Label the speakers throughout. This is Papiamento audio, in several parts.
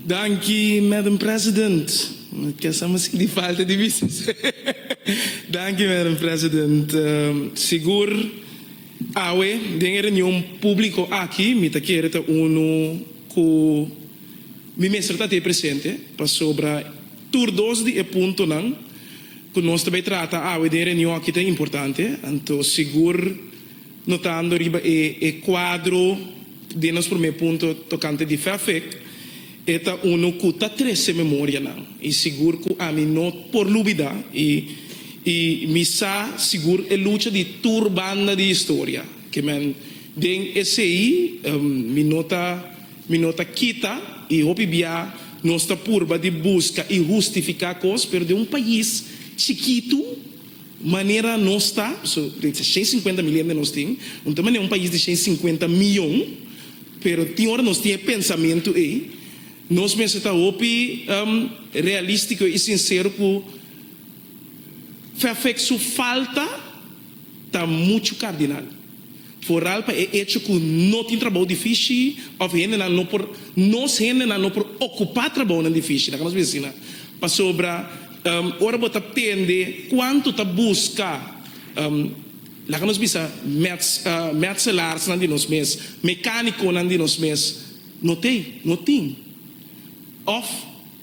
Speaker 1: Danki Madam President. Mi ta sa miskien di falta di bisa se. Danki Madam President. Sigur awe den e reunion publico aki mi ta kere ta unu cu mi mester ta te presente pasobra tur dos di e puntonan cu nos ta bay trata awe den e reunion aki ta importante anto sigur Notando riba e cuadro den nos prome punto tocante di fefec, e ta uno cu ta trece memorianan y sigur cu ami no por lubida y y mi sa sigur e lucha di tur banda di historia que men den esey mi no ta mi no ta kita y hopi bia nos ta purba di busca y hustifica cos pero den un pais chikitu Manera nos ta, so den se shen sinkuenta mil hende nos tin, no ta manera un pais di shen sinkuenta miyon, pero tin ora nos tin e pensamentu ei, nos mester ta hopi realístiko i sinsero ku Fafek su falta ta muchu kardinal. Foral pa e echo cu no tin trabou difishi of hendenan no por, nos hendenan no por ocupa trabounan difishi na nos bensina. Pasobra ora bo ta tende cuanto ta busca, laga nos bisa, metselarsnan di nos mes, mecaniconan di nos mes, no t'ey, no tin. Of.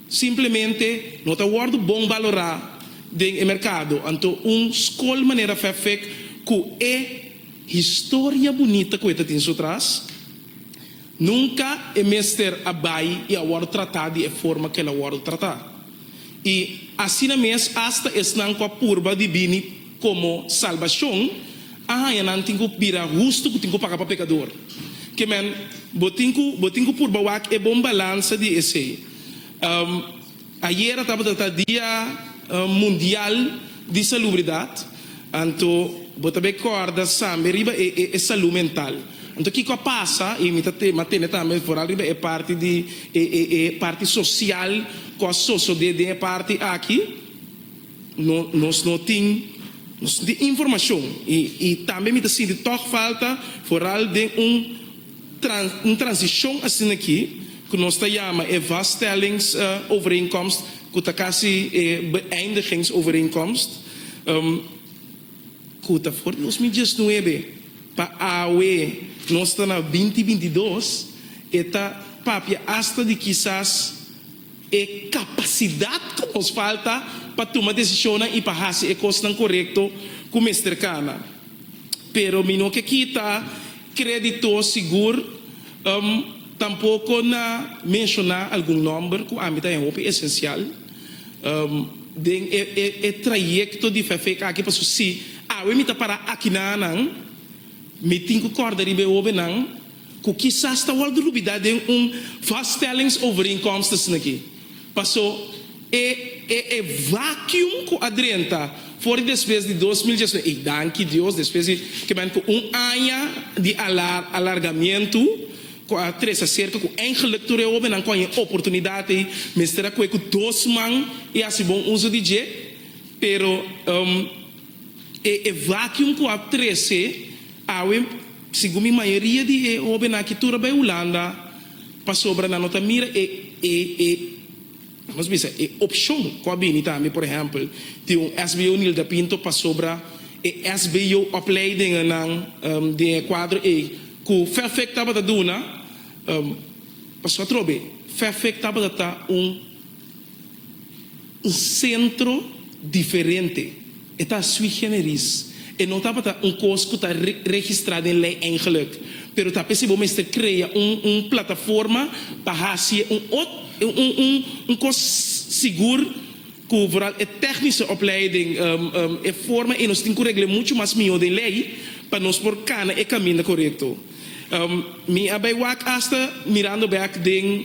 Speaker 1: Simplemente no ta wòrdu bon balorá den e merkado. Anto un skol manera Fefik ku e historia bunita ku e ta tin su tras, nunka e mester a bai i a wòrdu tratá di e forma ku el a wòrdu tratá. I asina mes asta esnan ku a purba di bini Komo salbashon a haña nan tin ku bira hustu ku tin ku paga pa pekador. Kieman bo tin ku bo tin ku purba wak e bon balansa di esei? Ayera tabata ta Dia Mundial di Salubridat, anto bo ta be kòrda sambe riba e e salú mental. Anto kiko a pasa, i mi ta te mi a tende tambe foral riba e parti di e e e parti sosial ku a sosodé den e parti aki? No, nos no tin di informashon i i tambe mi ta sinti tòg falta foral den un tran un transishon asin'akí ku nos ta yama e vaststellings overeenkomst ku ta kasi e beëindigings overeenkomst ku ta for di dos mil diesnuebe pa awe nos ta na binti binti dos e ta papia asta di kisas E kapasidat ku nos falta pa tuma desishonnan i pa hasi e kosnan korekto ku mester kana. Pero mi no ke kita krédito sigur, tampoko na menshoná algun nòmber ku ami ta haya hopi esensial den e trayekto di Fèfèk aki. Pasobra si awe mi ta pará aki na nan, mi tin ku kòrda riba e hóbennan. ku kisas ta wòrdu lubidá den un Vaststellingsovereenkomstesneki. Pasó e e e vacuum ku a drenta for di despues di dos mil diesnueve, i danki Dios despues di kibamen ku un aña di alar alargamiento ku a trese serka ku eingeluk tur e hóbennan ku a hien oportunidad ei mester a koe ku dos man i hasi bon uso di dje, pero. E e vacuum cu a trece awe segun mi mayoria di e hoben aki tur a bay Hulanda pasobra nan no ta mira e e e nos bisa e opcion cu a bini tambe por ehempel tin un SBO Nilda Pinto pasobra e SBO opleidingennan den e cuadro ey cu Fefec tabata duna pasobra atrobe Fefec tabata ta un Un sentro diferente. E ta sui generis. E no tabata un kos ku ta registrá den lei eingeluk, pero ta p'esei bo mester krea un plataforma pa hasi e un kos sigur ku vooral e technische opleiding e forma e nos tin ku regl'e muchu mas mihó den lei pa nos por kana e kaminda korekto. Mi a bai wak asta mirando bek den.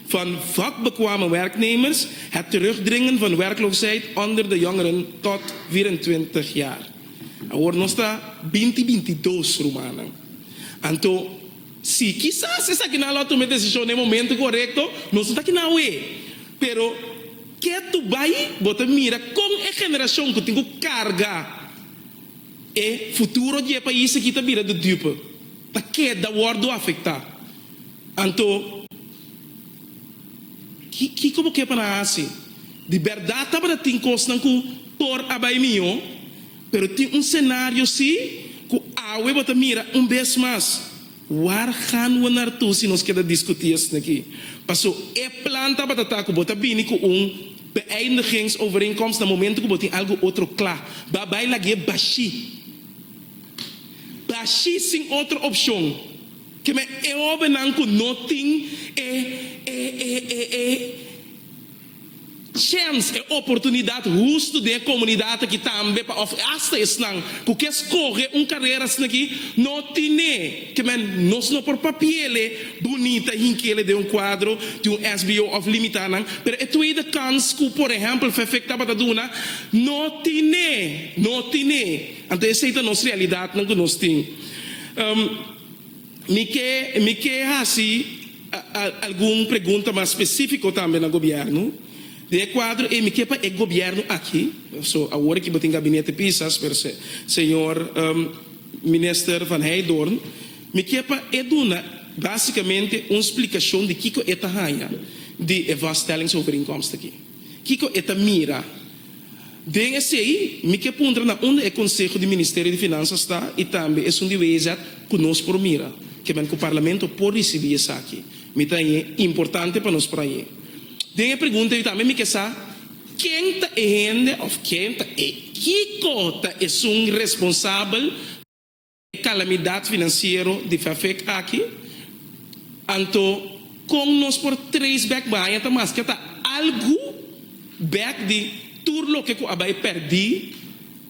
Speaker 1: Van vakbekwame werknemers, het terugdringen van werkloosheid onder de jongeren tot vierentwintig jaar. Awor nos ta binti bintidos rumannan. Anto, si, kisas esaki nan lo a tuma e desishon na e momento korekto, nos no ta kina awe. Pero, ke tur bai bo ta mira kon e generashon ku tin ku karga e futuro di e pais akí ta bira dudupe, ta keda wòrdu afektá? Anto, kiko bo ke pa nan hasi? Di bèrdat tabata tin kosnan ku por a bai mihó, pero tin un senario sí ku awe bo ta mira un bes mas. Wàr gaan bo nartoe si nos keda diskutí esei aki? Pasó e plan tabata ta ku bo ta bini ku un beëindigingsovereenkomst na momento ku bo tin algu otro kla. Bo a bai lagié bashí. Bashí sin otro opshon. Keme e hobennan ku no tin e e e e e chèns, e oportunidat hustu den e komunidat aki tambe pa òf asta esnan ku ke skohe un karera asina aki no tin e keme nos no por papiele bunita hinkele den un kuadro di un sbo òf limitá nan pero e tweede kans ku por ehèmpel fefek tabata duna no tin e no tin e anto esei ta nos realidatnan ku nos tin. Mi ke mi ke hasi algun pregunta mas specifico tambe na gobierno. Den e cuadro ey mi ke pa e gobierno aki, so awor aki bo tin gabinete pisa esper se señor Minister Van Heydoorn, mi ke pa e duna basicamente un splicacion di kico e ta haya di e vaststellingsovereenkomst aki. Kico e ta mira. Den esei mi ke puntra na unda e Konseho di Ministerio di Finansas ta i tambe esun di WEZ ku nos por mira kiaman ku Parlamento por risibí esaki. Mi ta añe importante pa nos por añe. Den e pregunta yu tambe mi ke sa ken ta e hende òf ken ta e kiko ta esun responsabel. E kalamidat finansiero di Fafec aki, anto kon nos por trace back bahaña ta maske ta algu back di tur loke ku a bai pèrdí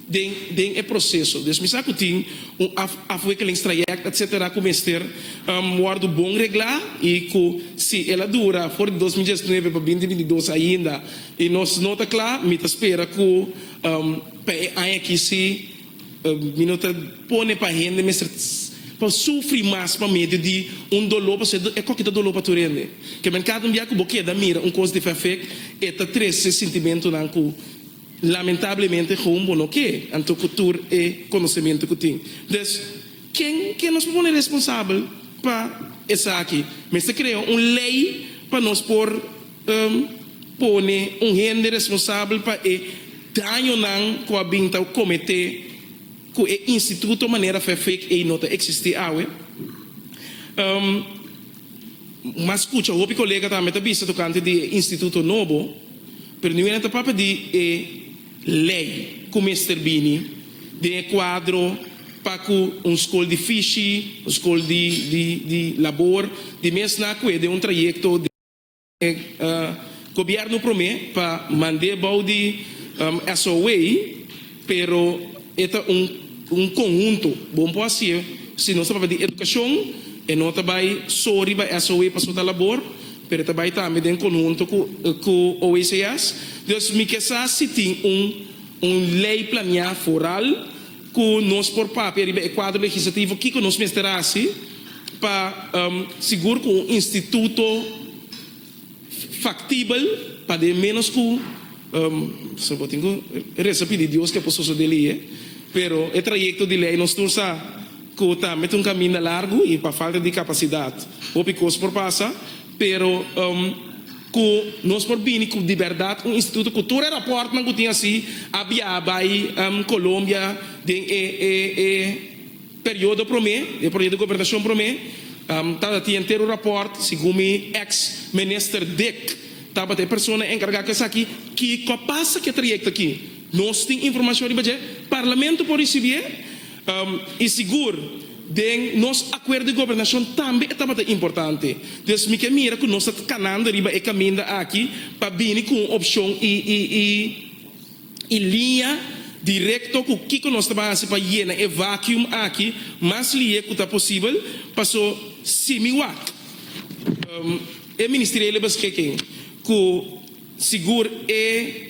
Speaker 1: den den e proseso. Dus mi sa ku tin un af afwikkelingstrajèkt etsetera ku mester wòrdu bon reglá i ku si el a dura for di dos mil diesnuebe pa binti binti dos ainda i nos no ta kla, mi ta spera ku pa e aña akí sí. Mi no ta pone pa hende mester pa sufri mas pa medio di un doló, pasobra e koki ta doló pa tur hende. Kimen kada un bia ku bo keda mira un kos di fafek, e ta trese sintimentunan ku lamentablemente gewoon bo no ke anto ku tur e konosementu ku tin. Des, ken ke nos por pone responsabel pa esaki? Mester krea un lei pa nos por. N pone un hende responsabel pa e dañonan ku a bin ta kometé ku e instituto manera fè fake ei no ta eksistí awe. N mas kucha hopi kolega tambe ta bisa tokante di e instituto nobo, pero niu nan ta papia di e lei ku mester bini den e kuadro pa ku un skol di fishi, un skol di labor, di mes na ku'e den un trayekto di. Gobierno prome pa mand'e bou di SOE, pero e ta un conhunto. Bo por haci'e si nos ta papia di educacion, e no ta bay so riba SOE pa su ta labor, pero e ta bay tambe den conhunto cu OECS. Dus mi ke sa si tin un ley planea foral. Ku nos por papia riba e kuadro legislativo kiko nos mester hasi pa sigur ku un instituto faktibel paden ménos ku pastor bo tin ku resa pidi Dios ke por sosodé lihe pero e trayekto di lei nos tur sa ku tambe ta un kaminda largu i pa falta di kapasidat hopi kos por pasa. Pero ku nos por bini ku di bèrdat un instituto ku tur e rapòrtnan ku tin hasi a biaha bai Colombia den e e periodo promé, e proyekto gobernashon promé, ta tin enter un rapòrt, segun mi ex Minister Dick tabata e persona enkargá ku esaki, kiko a pasa ku e trayekto aki. Nos tin informashon riba dje, Parlamento por risibie. I sigur, den nos Akuerdo di Gobernashon tambe e tabata importante. Dios mi ke mira ku nos ta kanando riba e kaminda aki pa bini ku un opshon i liña direkto ku kiko nos ta ban hasi pa yena e vacuum aki mas lihé ku ta posibel. Paso, si mi wak e Ministerio di Lebe Beschikking ku sigur e.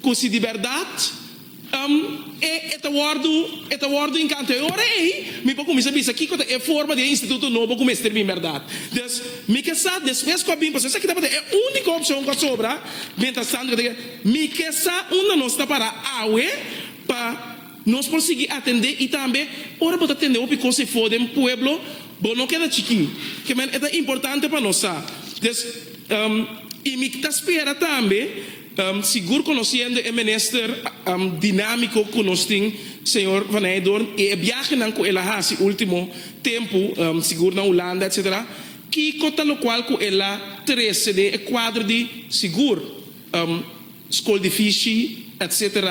Speaker 1: Cu si di berdad am e e ta wordo e ta wordo incanto e ora ey mi por cuminsa bisa kico ta e forma di e instituto nobo cu mester bin berdad. Des mi ke sa despues cu a bin paso esaki tabata e unico opcion cu a sobra mientras tanto cu ta keda mi ke sa unda nos ta para awe pa nos por sigui atende y tambe ora bo ta tende hopi cosa efo den pueblo bo no keda chiki ke men e ta importante pa nos sa des y mi ta spera tambe Sigur conociendo e minister dinamico cu nos tin señor Van Nijdorp y e biahenan cu el a haci ultimo tempo sigur na Hulanda etc. Kico ta locual cu el a trece den e cuadro di sigur School di Vishi etc.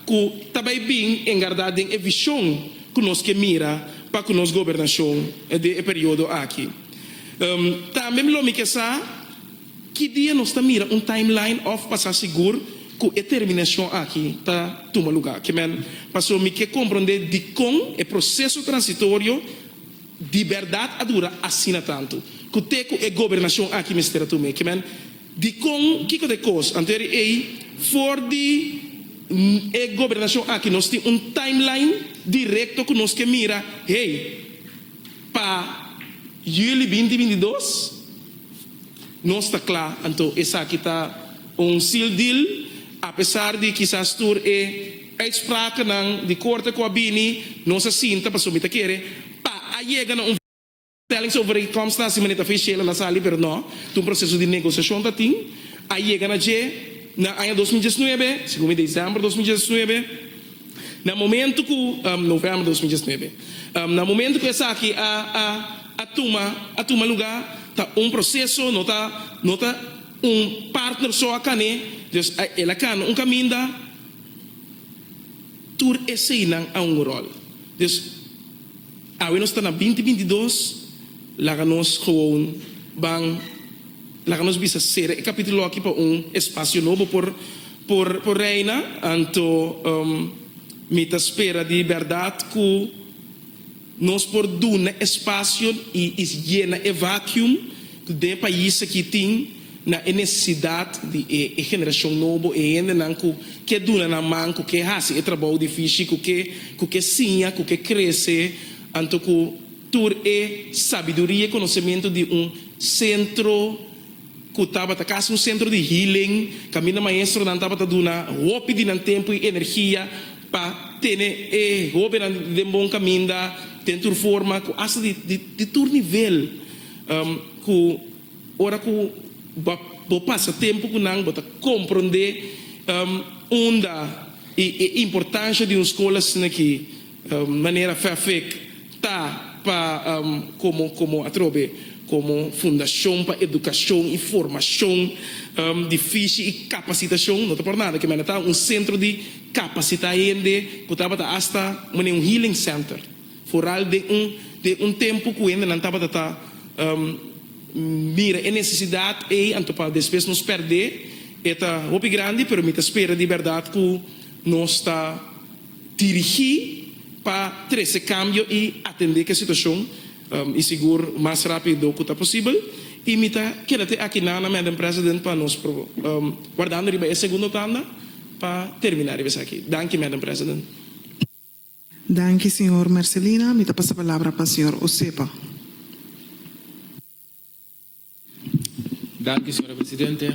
Speaker 1: Cu ta bay bin engarda den e vision cu nos ke mira pa cu nos gobernacion den e periodo aki. Tambe lo mi ke sa. Ki dia nos ta mira un timeline òf pa sa sigur ku e terminashon aki ta tuma lugá? Ke men paso mi ke komprondé dikon e proseso transitorio di bèrdat a dura asina tantu. Ku te ku e gobernashon aki mester a tum'é? Ke men dikon kiko ta e kos anter ei for di e gobernashon aki nos tin un timeline direkto ku nos ke mira hey pa Julie binti binti dos? Nos ta cla, anto esaki ta un seal deal, apesar di kisas tur e uitsprakennan di corte cu a bini nos a sinta pasobra mi ta kere pa a yega na un vaststellings over e comstan si manera officielen a sali pero no, ta un proceso di negociacion ta tin, a yega na dje na aña dos mil diesnuebe, segun mi december dos mil diesnuebe. Na momento cu, November dos mil diesnuebe, na momento cu esaki a a a tuma a tuma luga ta un proceso no ta no ta un partner so a cane dus el a cana un caminda tur eseinan a un rol dus Awe nos ta na binti binti dos, laga nos gewoon ban, laga nos bisa sera e capitulo aki pa un espacio nobo por por por reina, anto mi ta spera di berdad cu nos por duna espacio y y yena e vacuum cu den pais aki tin. na e nesesidat di e e generashon nobo, e hendenan ku ke duna nan man, ku ke hasi e trabou difishi, ku ke ku ke siña, ku ke krese, anto ku tur e sabiduria, e konosementu di un sentro ku tabata kasi un sentro di healing, kaminda maestronan tabata duna hopi di nan tempu i energia pa tene e hobennan den bon kaminda, den tur forma ku asta di di tur nivel ku. Ora ku bo pasa tempu ku nan, bo ta komprondé unda i e importansha di un skol asina ki manera Fairfax ta pa komo komo atrobe komo fundashon pa edukashon i formashon di fishi i kapasitashon. No ta por nada ke mane ta un sentro di kapasitá hende ku tabata asta un healing center. Foral den un den un tempu ku hendenan tabata ta mira e nesesidat ei anto pa despues nos pèrdè e ta hopi grandi pero mi ta spera di bèrdat ku nos ta dirigí pa trese kambio i atendé ku e situashon i sigur mas rápido ku ta posibel i mi ta keda te aki nan na Madam President pa nos wardando riba e segundo tanda pa terminá riba esaki. Danki Madam President.
Speaker 2: Danki señor Mercelina mi ta pasa palabra pa señor Josepa.
Speaker 3: Danki señora presidente.